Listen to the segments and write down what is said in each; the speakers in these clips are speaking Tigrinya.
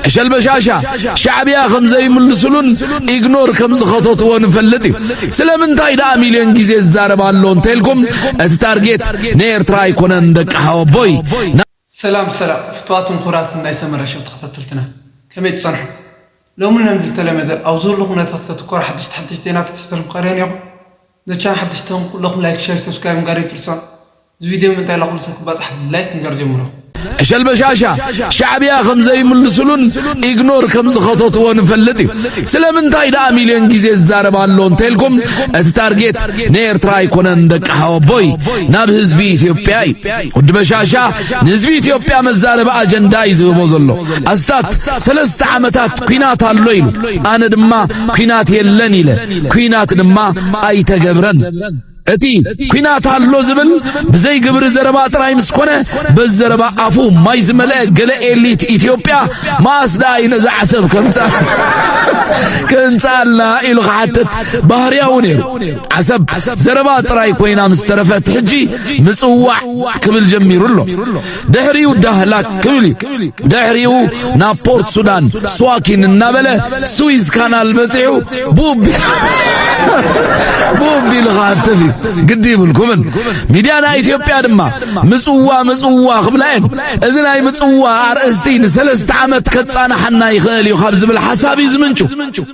ዕሸል በሻሻ ሻዕብያ ከም ዘይምልስሉን ኢግኖር ከም ዝኸተትዎ ንፈልጥ እዩ ስለምንታይ ደኣ ሚልዮን ግዜ ዝዛረብ ኣሎ እንተልኩም እቲ ታርጌት ንኤርትራ ኣይኮነን ደቂ ሓወቦይ ሰላም ሰላም ፍትዋትን ኩራትን ናይ ሰመረ ሸው ተኸታተልትና ከመይ ትጸንሑ ሎሚ ን ዝልተለመደ ኣብ ዝህሉ ኩነታት ለትኮር ሓድሽቲ ሓድሽቲ ዜናታት ሒዘልኩም ቀርየ ኔኹ። ነዚ ቻናል ሓደሽቲ ተኾንኩም ኩለኹም ላይክ ሸር ሰብስክራይብ ምግባር ኣይትርሳዑ እዚ ቪድዮ ምእንታይ ላኹሉ ሰብ ክባጻሕ ብላይክ ምግባር ጀምሩ። ዕሸል በሻሻ ሻዕብያ ከም ዘይምልስሉን ኢግኖር ከም ዝኸተትዎ ንፈልጥ እዩ ስለምንታይ ደኣ ሚልዮን ግዜ ዝዛረብ ኣሎ እንተልኩም እቲ ታርጌት ንኤርትራ ኣይኮነን ደቂ ሓወቦይ ናብ ህዝቢ ኢትዮጵያ እዩ ወዲ በሻሻ ንህዝቢ ኢትዮጵያ መዛረቢ ኣጀንዳ እዩ ዝህቦ ዘሎ ኣስታት ሰለስተ ዓመታት ኩናት ኣሎ ኢሉ ኣነ ድማ ኩናት የለን ኢለ ኲናት ድማ ኣይተገብረን። እቲ ኲናት ኣሎ ዝብል ብዘይ ግብሪ ዘረባ ጥራይ ምስ ኮነ በዚ ዘረባ ኣፉ ማይ ዝመልአ ገለ ኤሊት ኢትዮጵያ መኣስ ደኣ እዩ ነዛ ዓሰብ ከምፃ ከምፃልና ኢሉ ክሓትት ባህርያዊ ነይሩ ዓሰብ ዘረባ ጥራይ ኮይና ምስ ተረፈት ሕጂ ምፅዋዕ ክብል ጀሚሩ ኣሎ ድሕሪኡ ዳህላክ ክብል እዩ ድሕሪኡ ናብ ፖርት ሱዳን ስዋኪን እናበለ ስዊዝ ካናል በፂዑ ብኡቢሉ ክሃትፍ እዩ ግዲ ይብልኩምን ሚድያ ናይ ኢትዮጵያ ድማ ምፅዋ ምፅዋ ክብላ እየን እዚ ናይ ምፅዋ ኣርእስቲ ንሰለስተ ዓመት ከፃናሓና ይኽእል እዩ ካብ ዝብል ሓሳብ እዩ ዝምንጩ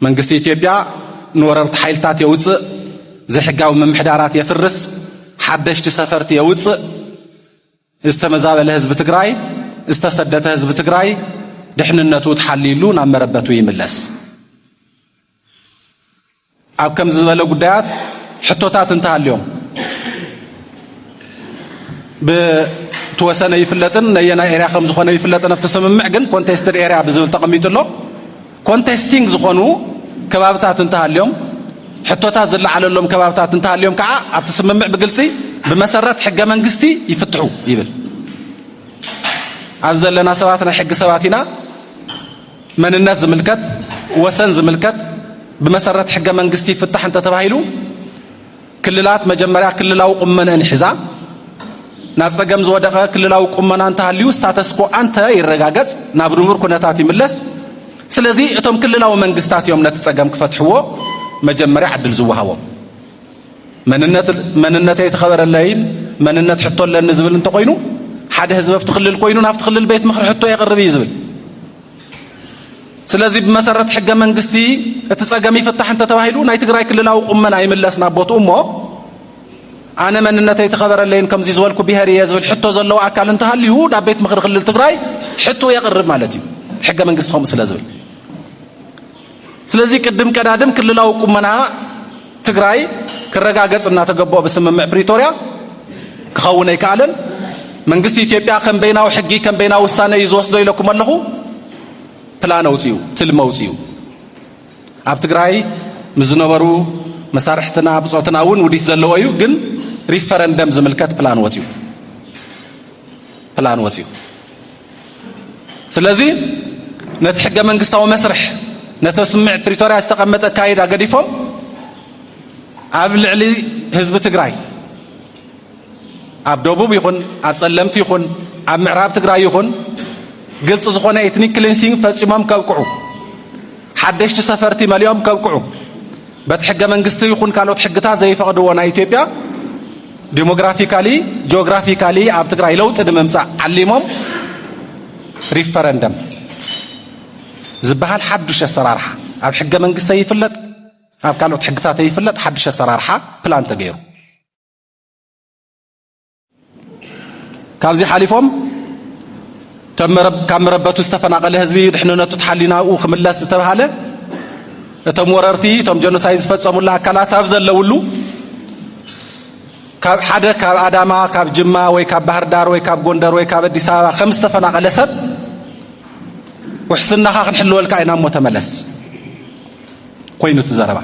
መንግስቲ ኢትዮጵያ ንወረርቲ ሓይልታት የውጽእ፣ ዘይሕጋዊ ምምሕዳራት የፍርስ፣ ሓደሽቲ ሰፈርቲ የውጽእ፣ ዝተመዛበለ ህዝቢ ትግራይ፣ ዝተሰደተ ህዝቢ ትግራይ ድሕንነቱ ተሓልዩሉ ናብ መረበቱ ይምለስ። ኣብ ከምዚ ዝበለ ጉዳያት ሕቶታት እንተሃልዮም ብትወሰነ ይፍለጥን ነየናይ ኤርያ ከም ዝኾነ ይፍለጥን ኣብቲ ስምምዕ ግን ኮንቴስትድ ኤርያ ብዝብል ተቐሚጡ ኣሎ። ኮንቴስቲንግ ዝኾኑ ከባብታት እንተሃልዮም፣ ሕቶታት ዝለዓለሎም ከባብታት እንተሃልዮም ከኣ ኣብቲ ስምምዕ ብግልጺ ብመሰረት ሕገ መንግስቲ ይፍትሑ ይብል። ኣብ ዘለና ሰባት ናይ ሕጊ ሰባት ኢና። መንነት ዝምልከት ወሰን ዝምልከት ብመሰረት ሕገ መንግስቲ ይፍታሕ እንተተባሂሉ ክልላት መጀመርያ ክልላዊ ቁመነእን ሒዛ ናብ ጸገም ዝወደቐ ክልላዊ ቁመና እንተሃልዩ ስታተስኮ ኣንተ ይረጋገጽ ናብ ንቡር ኩነታት ይምለስ። ስለዚ እቶም ክልላዊ መንግስታት እዮም ነቲ ጸገም ክፈትሕዎ መጀመርያ ዕድል ዝወሃቦም። መንነት መንነተይ ተኸበረለይን መንነት ሕቶ ኣለኒ ዝብል እንተኾይኑ ሓደ ህዝቢ ኣብቲ ክልል ኮይኑ ናብቲ ክልል ቤት ምኽሪ ሕቶ የቕርብ እዩ ዝብል። ስለዚ ብመሰረት ሕገ መንግስቲ እቲ ጸገም ይፍታሕ እንተተባሂሉ ናይ ትግራይ ክልላዊ ቁመና ይምለስ ናብ ቦትኡ እሞ ኣነ መንነተይ ተኸበረለይን ከምዚ ዝበልኩ ብሄር እየ ዝብል ሕቶ ዘለዎ ኣካል እንተሃልዩ ናብ ቤት ምኽሪ ክልል ትግራይ ሕቶ የቕርብ ማለት እዩ ሕገ መንግስቲ ከምኡ ስለ ዝብል ስለዚ ቅድም ቀዳድም ክልላዊ ቁመና ትግራይ ክረጋገፅ እናተገበኦ ብስምምዕ ፕሪቶርያ ክኸውን ኣይከኣለን። መንግስቲ ኢትዮጵያ ከም በይናዊ ሕጊ ከም በይናዊ ውሳነ እዩ ዝወስዶ ኢለኩም ኣለኹ። ፕላን ኣውፅኡ፣ ትልሚ ኣውፅኡ። ኣብ ትግራይ ምስ ዝነበሩ መሳርሕትና ብፆትና እውን ውዲት ዘለዎ እዩ። ግን ሪፈረንደም ዝምልከት ፕላን ወፅኡ ፕላን ወፅኡ ስለዚ ነቲ ሕገ መንግስታዊ መስርሕ ነቲ ስምምዕ ፕሪቶርያ ዝተቐመጠ ኣካይዳ ገዲፎም ኣብ ልዕሊ ህዝቢ ትግራይ ኣብ ደቡብ ይኹን ኣብ ጸለምቲ ይኹን ኣብ ምዕራብ ትግራይ ይኹን ግልፂ ዝኾነ ኤትኒክ ክሊንሲንግ ፈፂሞም ከብቅዑ ሓደሽቲ ሰፈርቲ መሊኦም ከብቅዑ በቲ ሕገ መንግስቲ ይኹን ካልኦት ሕግታት ዘይፈቕድዎ ናይ ኢትዮጵያ ዲሞግራፊካሊ ጂኦግራፊካሊ ኣብ ትግራይ ለውጢ ንምምፃእ ዓሊሞም ሪፈረንደም ዝበሃል ሓዱሽ ኣሰራርሓ ኣብ ሕገ መንግስቲ ይፍለጥ ኣብ ካልኦት ሕግታት ይፍለጥ ሓዱሽ ኣሰራርሓ ፕላን ተገይሩ ካብዚ ሓሊፎም ካብ መረበቱ ዝተፈናቐለ ህዝቢ ድሕንነቱ ተሓልዩ ናብኡ ክምለስ ዝተብሃለ እቶም ወረርቲ እቶም ጀኖሳይድ ዝፈፀሙሉ ኣካላት ኣብ ዘለውሉ ካብ ሓደ ካብ ኣዳማ ካብ ጅማ ወይ ካብ ባህር ዳር ወይ ካብ ጎንደር ወይ ካብ ኣዲስ ኣበባ ከም ዝተፈናቐለ ሰብ ውሕስናኻ ክንሕልወልካ ኢና እሞ ተመለስ ኮይኑ እቲ ዘረባ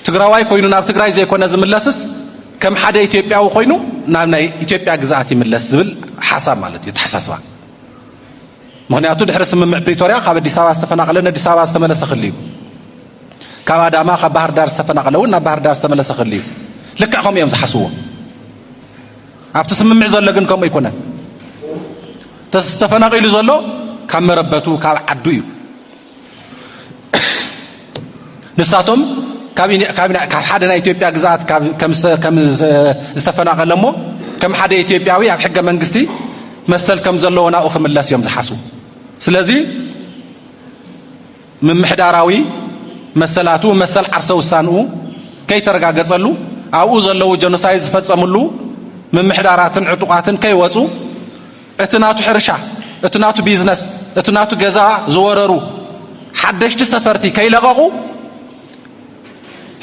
ትግራዋይ ኮይኑ ናብ ትግራይ ዘይኮነ ዝምለስስ ከም ሓደ ኢትዮጵያዊ ኮይኑ ናብ ናይ ኢትዮጵያ ግዝኣት ይምለስ ዝብል ሓሳብ ማለት እዩ ተሓሳስባ ምክንያቱ ድሕሪ ስምምዕ ፕሪቶርያ ካብ ኣዲስ ኣበባ ዝተፈናቀለ ንኣዲስ ኣበባ ዝተመለሰ ክል እዩ ካብ ኣዳማ ካብ ባህር ዳር ዝተፈናቀለ እውን ናብ ባህር ዳር ዝተመለሰ ክል እዩ ልክዕ ከምኡ እዮም ዝሓስብዎ ኣብቲ ስምምዕ ዘሎ ግን ከምኡ ኣይኮነን ተፈናቂሉ ዘሎ ካብ መረበቱ ካብ ዓዱ እዩ ንሳቶም ካብ ሓደ ናይ ኢትዮጵያ ግዝኣት ከም ዝተፈናቐለ እሞ ከም ሓደ ኢትዮጵያዊ ኣብ ሕገ መንግስቲ መሰል ከም ዘለዎ ናብኡ ክምለስ እዮም ዝሓስቡ ስለዚ ምምሕዳራዊ መሰላቱ መሰል ዓርሰ ውሳንኡ ከይተረጋገጸሉ ኣብኡ ዘለዉ ጀኖሳይድ ዝፈጸምሉ ምምሕዳራትን ዕጡቓትን ከይወፁ እቲ ናቱ ሕርሻ፣ እቲ ናቱ ቢዝነስ፣ እቲ ናቱ ገዛ ዝወረሩ ሓደሽቲ ሰፈርቲ ከይለቐቑ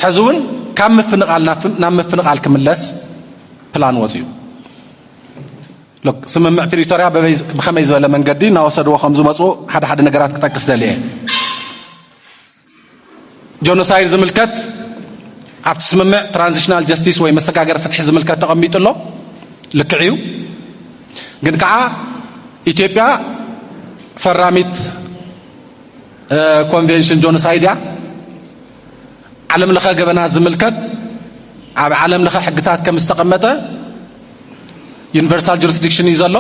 ሕዚ እውን ካብ ምፍንቓል ናብ ምፍንቓል ክምለስ ፕላን ወፅዩ ስምምዕ ፕሪቶርያ ብከመይ ዝበለ መንገዲ እናወሰድዎ ከም ዝመፁ ሓደ ሓደ ነገራት ክጠቅስ ደልየ ጆኖሳይድ ዝምልከት ኣብቲ ስምምዕ ትራንዚሽናል ጀስቲስ ወይ መሰጋገሪ ፍትሒ ዝምልከት ተቐሚጡ ኣሎ ልክዕ እዩ ግን ከዓ ኢትዮጵያ ፈራሚት ኮንቬንሽን ጆኖሳይድ እያ ዓለም ለኸ ገበና ዝምልከት ኣብ ዓለም ለኸ ሕግታት ከም ዝተቐመጠ ዩኒቨርሳል ጁሪስዲክሽን እዩ ዘሎ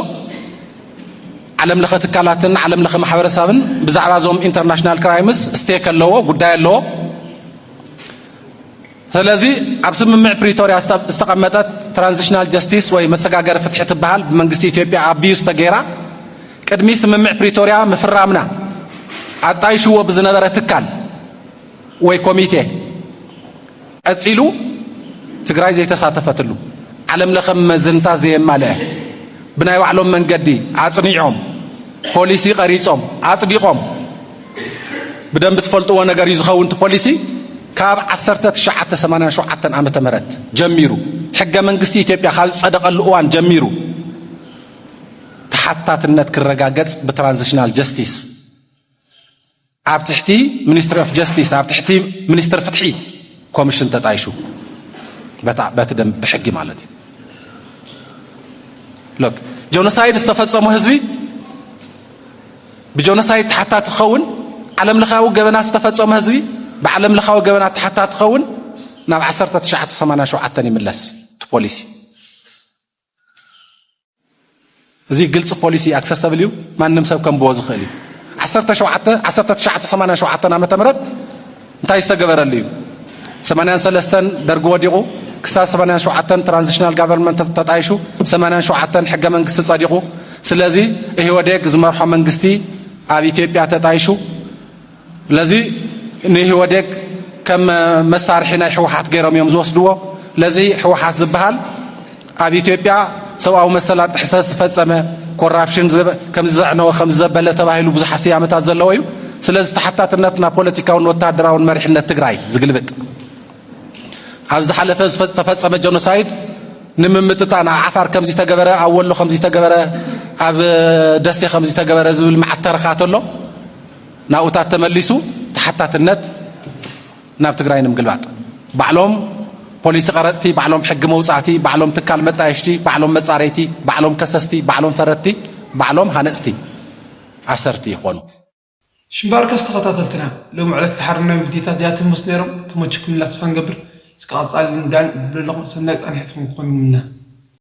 ዓለም ለኸ ትካላትን ዓለም ለኸ ማሕበረሰብን ብዛዕባ እዞም ኢንተርናሽናል ክራይምስ ስቴክ ኣለዎ ጉዳይ ኣለዎ ስለዚ ኣብ ስምምዕ ፕሪቶርያ ዝተቐመጠት ትራንዚሽናል ጀስቲስ ወይ መሰጋገሪ ፍትሒ ትበሃል ብመንግስቲ ኢትዮጵያ ኣቢዩስ ተገይራ ቅድሚ ስምምዕ ፕሪቶርያ ምፍራምና ኣጣይሽዎ ብዝነበረ ትካል ወይ ኮሚቴ ቀጺሉ ትግራይ ዘይተሳተፈትሉ ዓለም ለኸ መዘንታ ዘየማልአ ብናይ ባዕሎም መንገዲ ኣጽኒዖም ፖሊሲ ቀሪጾም ኣጽዲቖም ብደንብ ትፈልጥዎ ነገር እዩ ዝኸውን እቲ ፖሊሲ ካብ 1987 ዓ ም ጀሚሩ ሕገ መንግስቲ ኢትዮጵያ ካብ ዝጸደቐሉ እዋን ጀሚሩ ተሓታትነት ክረጋገጽ ብትራንዚሽናል ጀስቲስ ኣብ ትሕቲ ሚኒስትሪ ኦፍ ጀስቲስ ኣብ ትሕቲ ሚኒስትር ፍትሒ ኮሚሽን ተጣይሹ በቲ ደንብ ብሕጊ ማለት እዩ ሎክ ጆኖሳይድ ዝተፈጸሙ ህዝቢ ብጆኖሳይድ ተሓታቲ ክኸውን ዓለም ለኻዊ ገበና ዝተፈጸሙ ህዝቢ ብዓለም ለኻዊ ገበና ተሓታቲ ክኸውን ናብ 1987 ይምለስ እቲ ፖሊሲ እዚ ግልፂ ፖሊሲ ኣክሰሰብል እዩ፣ ማንም ሰብ ከንብቦ ዝኽእል እዩ። ዓሰርተ ሸውዓተ ዓሰርተ ትሽዓተ ሰማንያን ሸውዓተን ዓመተ ምህረት እንታይ ዝተገበረሉ እዩ? ሰማንያን ሰለስተን ደርጊ ወዲቑ ክሳብ ሰማንያን ሸውዓተን ትራንዚሽናል ጋቨርንመንት ተጣይሹ ሰማንያን ሸውዓተን ሕገ መንግስቲ ጸዲቑ። ስለዚ ኢህወዴግ ዝመርሖ መንግስቲ ኣብ ኢትዮጵያ ተጣይሹ ለዚ ንኢህወዴግ ከም መሳርሒ ናይ ሕወሓት ገይሮም እዮም ዝወስድዎ። ለዚ ሕወሓት ዝበሃል ኣብ ኢትዮጵያ ሰብኣዊ መሰላት ጥሕሰት ዝፈጸመ ኮራፕሽን ከም ዘዕነወ ከም ዘበለ ተባሂሉ ብዙሓት ስያመታት ዘለዎ እዩ። ስለዚ ተሓታትነት ናብ ፖለቲካውን ወታደራውን መሪሕነት ትግራይ ዝግልብጥ ኣብ ዝሓለፈ ዝተፈጸመ ጀኖሳይድ ንምምጥጣን ኣብ ዓፋር ከምዚ ተገበረ ኣብ ወሎ ከምዚ ተገበረ ኣብ ደሴ ከምዚ ተገበረ ዝብል መዓት ተረኻት ኣሎ ናውታት ተመሊሱ ተሓታትነት ናብ ትግራይ ንምግልባጥ ባዕሎም ፖሊሲ ቀረፅቲ፣ ባዕሎም ሕጊ መውፃእቲ፣ ባዕሎም ትካል መጣየሽቲ፣ ባዕሎም መፃረይቲ፣ ባዕሎም ከሰስቲ፣ ባዕሎም ፈረድቲ፣ ባዕሎም ሃነፅቲ ኣሰርቲ ይኾኑ። እሺ ባርከስ ተኸታተልትና ሎሚ ዕለት ዝሓረናዮም ቪድዮታት እዚኣቶም ምስ ነይሮም ተመችኩምና ተስፋ ንገብር እስከ ቀፃሊ ንዳን ብለለኹም ሰናይ ፃንሒት ንክኾን ይምነ።